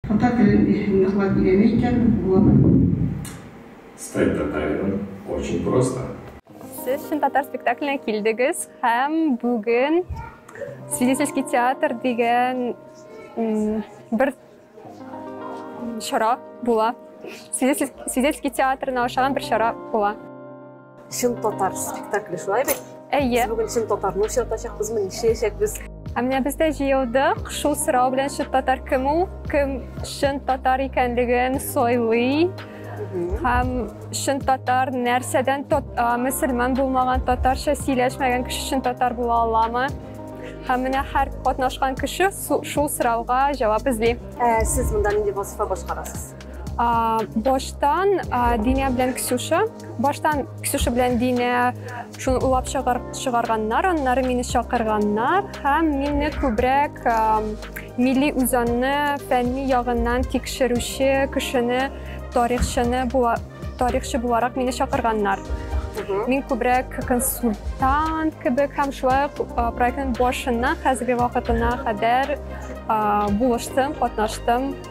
Татар телен ныклап өйрәнә икән Булат. Стать татарином очень просто. Сез чын татар спектакленә килдегез һәм бүген Свидетельский театр дигән бер чара була. Свидетельский театрына ошаган бер чара була. Чын татар спектакле шулай бит? Әйе. Без бүген чын татарны очратачакбызмы, нишләячәкбез? Ә менә без дә җыелдык. Шул сорау белән чын татар кем ул? Кем чын татар икәнлеген сойлый? Һәм чын татар нәрсәдән мөселман булмаган татарча сөйләшмәгән кеше чын татар була аламы? Һәм менә һәр катнашкан кеше шул сорауга җавап эзли. Ә сез монда нинди вазифа башкарасыз? А, баштан а, Динә белән Ксюша. Баштан Ксюша белән Динә шуны уйлап чыгар, чыгарганнар, аннары мине чакырганнар һәм мине күбрәк а, милли үзанны фәнни ягыннан тикшерүче кешене, тарихчыны була, тарихчы буларак мине чакырганнар. Мин күбрәк консультант кебек һәм шулай ук проектның башыннан хәзерге вакытына кадәр булыштым, катнаштым.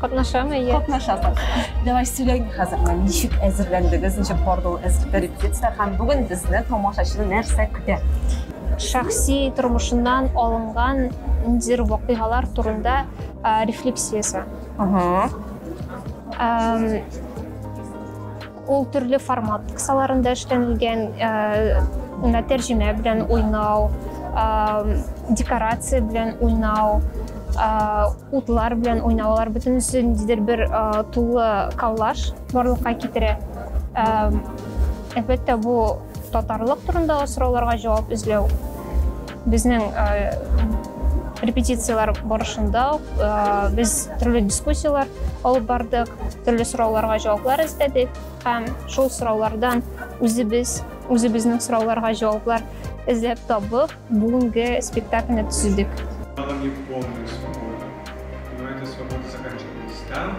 Катнашамы, әйе. Катнашасың. Давай сөйләйме хәзер, ничек әзерләндегез, ничек барды ул репетиция һәм бүген безне тамашачыны нәрсә көтә? Шәхси тормышыннан алынган ниндидер вакыйгалар турында рефлексиясе. Ага. Ул төрле формат кысаларында эшләнелгән, менә тәрҗемә белән уйнау, декорация белән уйнау, утлар белән уйнау, алар бөтенесе ниндидер бер тулы коллаж барлыкка китерә. Әлбәттә, бу татарлык турында сорауларга җавап эзләү. Безнең репетицияләр барышында без төрле дискуссияләр алып бардык, төрле сорауларга җаваплар эзләдек һәм шул сораулардан үзебез, үзебезнең сорауларга җаваплар эзләп табып, бүгенге спектакльне төзедек. Там,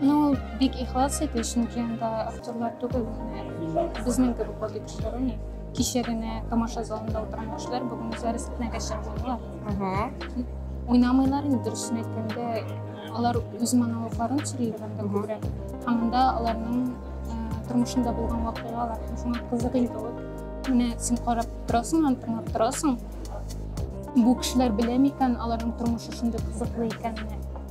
Ну, бик ихлас иде, чөнки анда актерлар түгел, безнең кебек вот посторонний. Кичә генә тамаша залында утырган кешеләр бүген үзләре сәхнәгә чыгмыйлар. Уйнамыйлар инде, дөресен әйткәндә, алар үз монологларын сөйлиләр анда күбрәк. Һәм анда аларның э, тормышында булган вакыйгалар, шуңа кызык инде ул. Менә син карап торасың, аны тыңлап торасың. Бу кешеләр белә микән, аларның тормышы шундый кызыклы икәнен?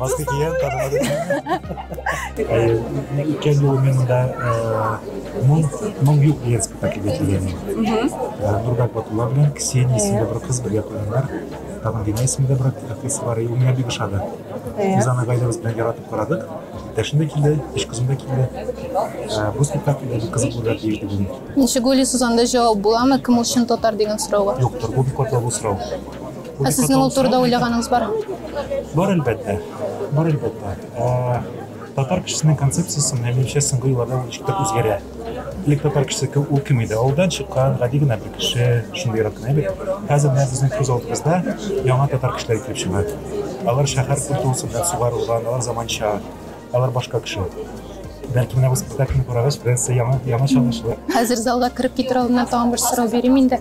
Баскы киен, танымады. Икән юл мин монда моң, моң юк дигән спектакльгә килгәнмен. Нурбәк Батулла белән Ксения исемле бер кыз бергә куйганнар. Табын Дина исемле бер актриса бар, ул миңа бик ошады. Без аны гаиләбез белән яратып карадык. Иптәшем дә килде, өч кызым да килде. Бу спектакль бик кызык булыр дип уйлыйм. Ничек уйлыйсыз, анда җавап буламы, кем ул чын татар дигән сорауга? Юктыр, бу бик катлаулы сорау. Ә сезнең ул турыда уйлаганыгыз бар? Бар әлбәттә. Бар әлбәттә. Ә, татар кешесенең концепциясе минемчә соңгы елларда ничек тә үзгәрә. Элек татар кешесе кем ул кем иде? Авылдан чыккан гади генә бер кеше, шундый рак кенә бит. Хәзер менә безнең күз алдыбызда яңа татар кешеләре килеп чыга. Алар шәһәр культурасы белән сугарылган, алар заманча. Алар башка кеше. Бәлки менә бу спектакльне карагач, Фрэнсия яңа, яңа чагышлы. Хәзер залга кереп китер алдыннан тагын бер сорау бирим инде.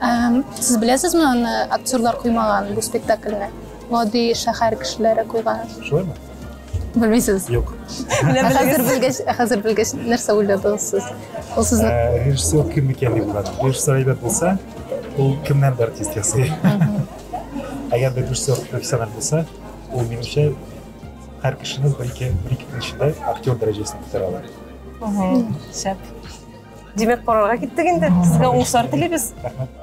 Эм, Сез беләсезме аны актерлар куймаган бу спектакльне? Гади шәһәр кешеләре куйган. Шулаймы? Белмисез. Юк. Менә Ә хәзер белегез. белгәч, ә хәзер белгәч нәрсә уйладыгыз сез? Ул сезне Ә, Режиссер кем икән дип уйладым. Режиссер әйбәт булса, ул кемнән дә артист ясый. Әгәр дә режиссер профессиональ булса, ул минемчә Һәр кешенең бер ике бер ике көн эчендә актер дәрәҗәсен күтәрә ала. Шәп. Димәк, карарга киттек инде. Сезгә уңышлар телибез. Рәхмәт.